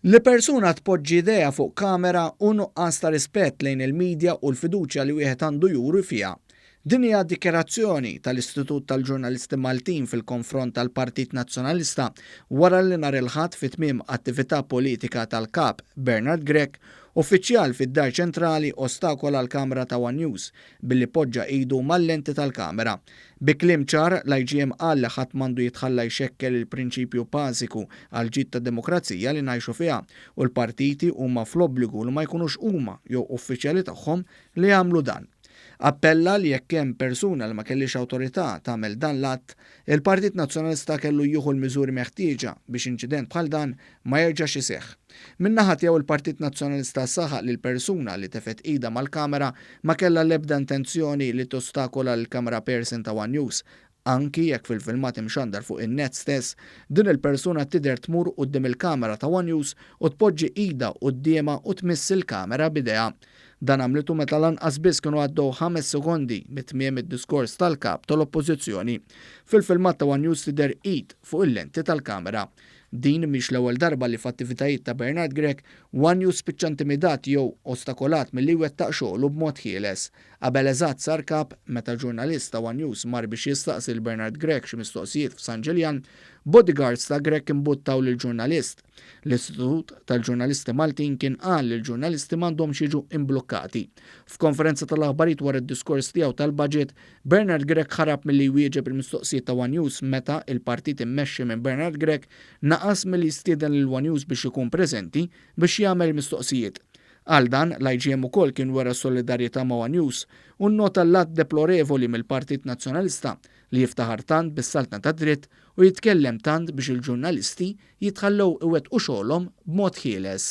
Li persuna tpoġġi idejha fuq kamera hu nuqqas ta' rispett lejn il-midja u l-fiduċja li wieħed għandu juri fiha. Din hija dikjarazzjoni tal-Istitut tal-Ġurnalisti Maltin fil-konfront tal-Partit Nazzjonalista wara li nhar il-Ħadd fi tmiem attività politika tal-Kap Bernard Grech, uffiċjal fid-Dar Ċentrali ostakola l-kamra ta' one News billi poġġa idu mal-lenti tal-kamera. Bi kliem ċar, l-IGM qal li ħadd m'għandu jitħalla jxekkel il-prinċipju bażiku għall-ġid ta' demokrazija li ngħixu fiha u l-partiti huma fl-obbligu li ma jkunux huma jew uffiċjali tagħhom li jagħmlu dan. Appella li jekk hemm persuna li ma kellhiex awtorità tagħmel dan l-att, il-Partit Nazzjonalista kellu jieħu l-miżuri meħtieġa biex inċident bħal dan ma jerġax iseħħ. Min-naħa tiegħu l-Partit Nazzjonalista saħaq li l-persuna li tefgħet idha mal-kamera ma kellha l-ebda intenzjoni li tostakola lill-cameraperson ta' one News. Anki jekk fil-filmat imxandar fuq in-net stess, din il-persuna tidher tmur quddiem il-kamera ta' one News u tpoġġi idha quddiemha u tmiss il-kamera b'idejha. Dan għamlitu meta lanqas biss kienu għaddew ħames sekondi minn tmiem id-diskors tal-Kap tal-Oppożizzjoni. Fil-filmat ta' one News tidher id fuq il-lenti tal-kamera. Din mhix l-ewwel darba li f'attivitajiet ta' Bernard Grech, Wanyu spiċċa intimidat jew ostakolat milli jwettaq xoghlu b'mod ħieles. Qabel eżatt sar kap, meta ġurnalist ta' one News mar biex jistaqsi lil Bernard Grech xi mistoqsijiet f'San Ġiljan, bodyguards ta' Grech imbuttaw lill-ġurnalist. L-Istitut tal-Ġurnalisti Maltin kien qal li l-ġurnalisti m'għandhomx jiġu imblukkati. F'konferenza tal-aħbarijiet wara d-diskors tiegħu tal-Budget, Bernard Grech ħarab milli jwieġeb il-mistoqsijiet ta' one News meta il-partit immexxi minn Bernard Grech naqas milli jistieden lil one News biex ikun preżenti biex jagħmel il-mistoqsijiet. Għal dan, l-IGM ukoll kien wera solidarjetà ma' one News u nnota l-att deplorevoli mill-Partit Nazzjonalista li jiftaħar tant bis-saltna tad-dritt u jitkellem tant biex il-ġurnalisti jitħallew iwettqu xogħolhom b'mod ħieles.